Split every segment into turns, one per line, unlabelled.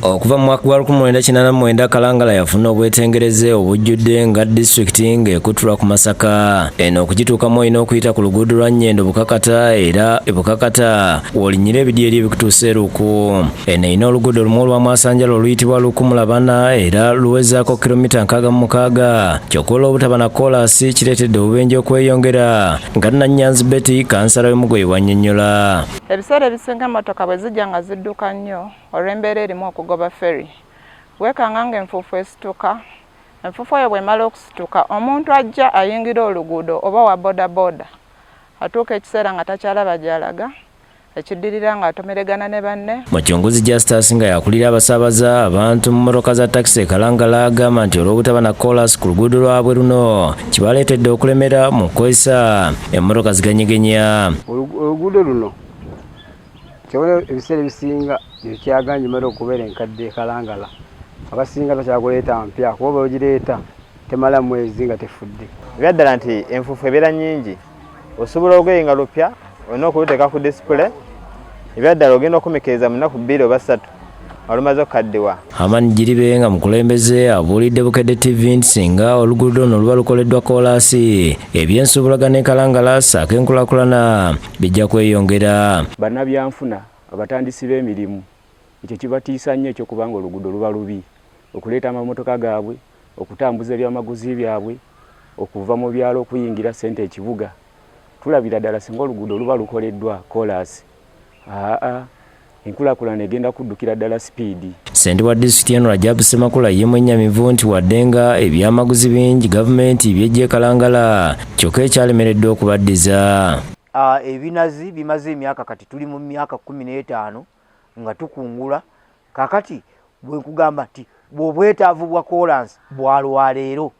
Okuva mu mwaka gwa 1989 Kalangala yafuna obwetengereze obujjudde nga disitulikiti ng'ekutulwa ku Masaka. Eno okugituukamu olina okuyita ku luguudo lwa Nyendo Bukakata era e Bukakata w'olinyira ebidyeri ebikutuusa eruku. Eno erina oluguudo lumu olwamwasanjala oluyitibwa Lukumulabana era luwezaako kilomita nkaaga mu mukaaga. Kyokka olw'obutaba na koolaasi kireetedde obubenje okweyongera nga Nannyanzi Betty kansala w'e Mugoyi bw'annyonnyola. Ebiseera ebisinga
emmotoka bwe zijja nga zidduka nnyo Olw'embeera erimu okugoba ferry, weekanga ng'enfuufu esituka. Enfuufu eyo bw'emala okusituka, omuntu ajja ayingira oluguudo oba owa bodaboda atuuka ekiseera nga takyalaba gy'alaga, ekiddirira ng'atomeregana ne banne. Mucunguzi Justus nga y'akulira abasaabaza abantu mu mmotoka za takisi e Kalangala agamba nti olw'obutaba na koolaasi ku luguudo lwabwe luno kibaleetedde okulemera mu kukozesa emmotoka ziganyegenya. Oluguudo
luno Kyewoleo ebiseera ebisinga ekyaganja mara okubeera enkadde kalangala abasinga bakyakuleeta mpya kuba bweogireeta temala mwezi nga tefudde. Ebyaddala nti
enfufu ebeera nyingi osobola olugoye nga lupya olina okuluteka ku display ebyaddala ogenda okumikiriza mu naku bbiri oba satu. olumaze okukaddiwa amani giribe nga mukulembeze
abuulidde bukedde tv nti singa oluguudo luno luba lukoleddwa koolaasi eby'ensuubulagana enkalangala saako enkulakulana bijja kweyongera bannabyanfuna
abatandisi b'emirimu ekyo kibatiisa nnyo ekyokubanga oluguudo luba lubi okuleeta amamotoka gaabwe okutambuza ebyamaguzi byabwe okuva mu byalo okuyingira ssente ekibuga tulabira ddala singa oluguudo luba lukoleddwa koolaasi Aa enkulakulana egenda kuddukira ddala sipiidi. Ssentebe wa disitulikiti eno Rajab Ssemakula ye mwennyamivu nti wadde nga ebyamaguzi bingi gavumenti by'eggye kalangala kyokka ekyalemeredde okubaddiza. Ebinazi
bimaze emyaka kati tuli mu myaka kkumi n'etaano nga tukungula kaakati bwe nkugamba nti obwetaavu bwa koolansi bwa lwaleero.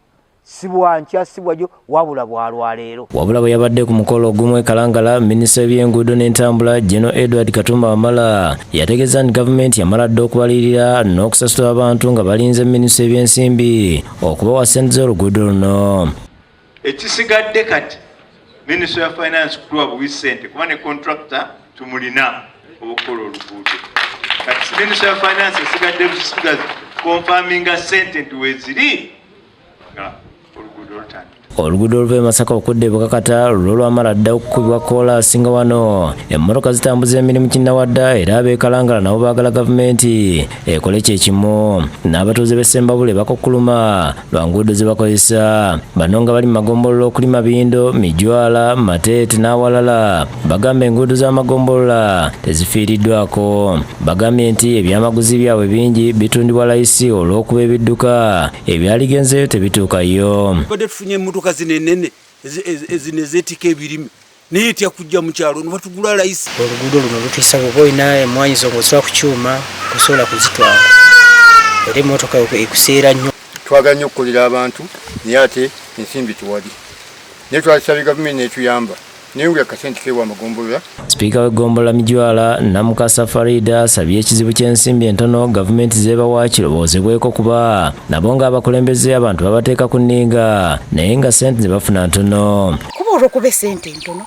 sibwankya sibwajo wabula bwalwaleero wabula bwe yabadde ku mukolo ogumu ekalangala minisita w'ebyenguudo n'entambula geno edward katumba wamala yategeeza nti gavumenti yamala dda okubalirira n'okusasula abantu nga balinze minisita ebyensimbi okubawa sente z'oluguudo luno ekisigadde
kati minisita ya finance kutuwa buwi sente kuba ne contracta tumulina obukola oluguudo kati minisita ya finance esigadde busigazi konfaminga sente nti weziri oluguudo oluva e masaka okudda e bukakata lulwo lwamala dda okukubibwa koolaasi nga wano emmotoka zitambuza emirimu kinnawadda era abeekalangala nabo baagala gavumenti ekole kye kimu n'abatuuze b'e sembabule bakukkuluma lwa nguudo ze bakozesa bano nga bali mu magombolola okuli mabindo mijwala mateete n'awalala bagamba enguudo z'amagombolola tezifiiriddwako Bagambye nti ebyamaguzi byabwe bingi bitundibwa layisi olw'okuba ebidduka ebyaligenzeeyo tebituukayo. Tubadde tufunye emmotoka zino
ennene ezino ezeetika ebirime naye etya kujja mu kyalo ne batugula layisi. Oluguudo luno lutiisa
bw'oba olina emmwaanyi zo ng'oziwa ku kyuma osobola kuzitwala era emmotoka ekuseera nnyo. Twagala nnyo okukolera
abantu naye ate ensimbi tewali naye twazisabye gavumenti n'etuyamba. Sipiika w'eggombolola Mijwala
Namukasa Farida asabye ekizibu ky'ensimbi entono gavumenti zeebawa kirowoozebweko kuba nabo ng'abakulembeze abantu babateeka ku nninga naye nga ssente ze bafuna ntono. Kuba olw'okuba essente
ntono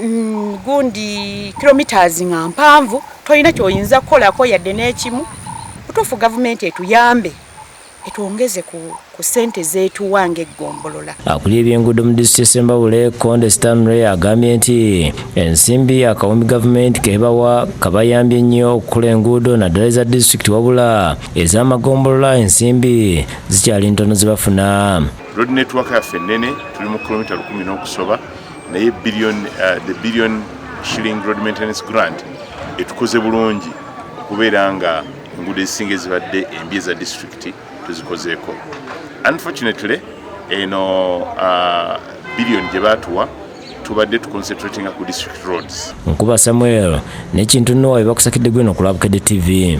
mm, gundi kilomitas nga mpanvu tolina kyoyinza kukolako yadde n'ekimu. Butuufu gavumenti etuyambe etwongeze ku ku sente zetuwa ng'eggombolola. Akulira ebyenguudo mu
disitulikiti Sembabule, Konde Stanley agambye nti ensimbi akawumbi gavumenti kebawa kabayambye nnyo okukola enguudo naddala eza disitulikiti wabula ez'amagombolola ensimbi zikyali ntono zebafuna. Road network
yaffe nnene tuli mu kilomita lukumi n'okusoba naye billion, uh, the billion shilling road maintenance grant etukoze bulungi okubeera nga enguudo ezisinga ezibadde embi eza disitulikiti tuzikozeeko unfortunately eno uh, biliyoni gye baatuwa tubadde tuconcentratinga ku district roads nkuba samuel nekintu nowa bebakusakidde gweno ku lwabukede tv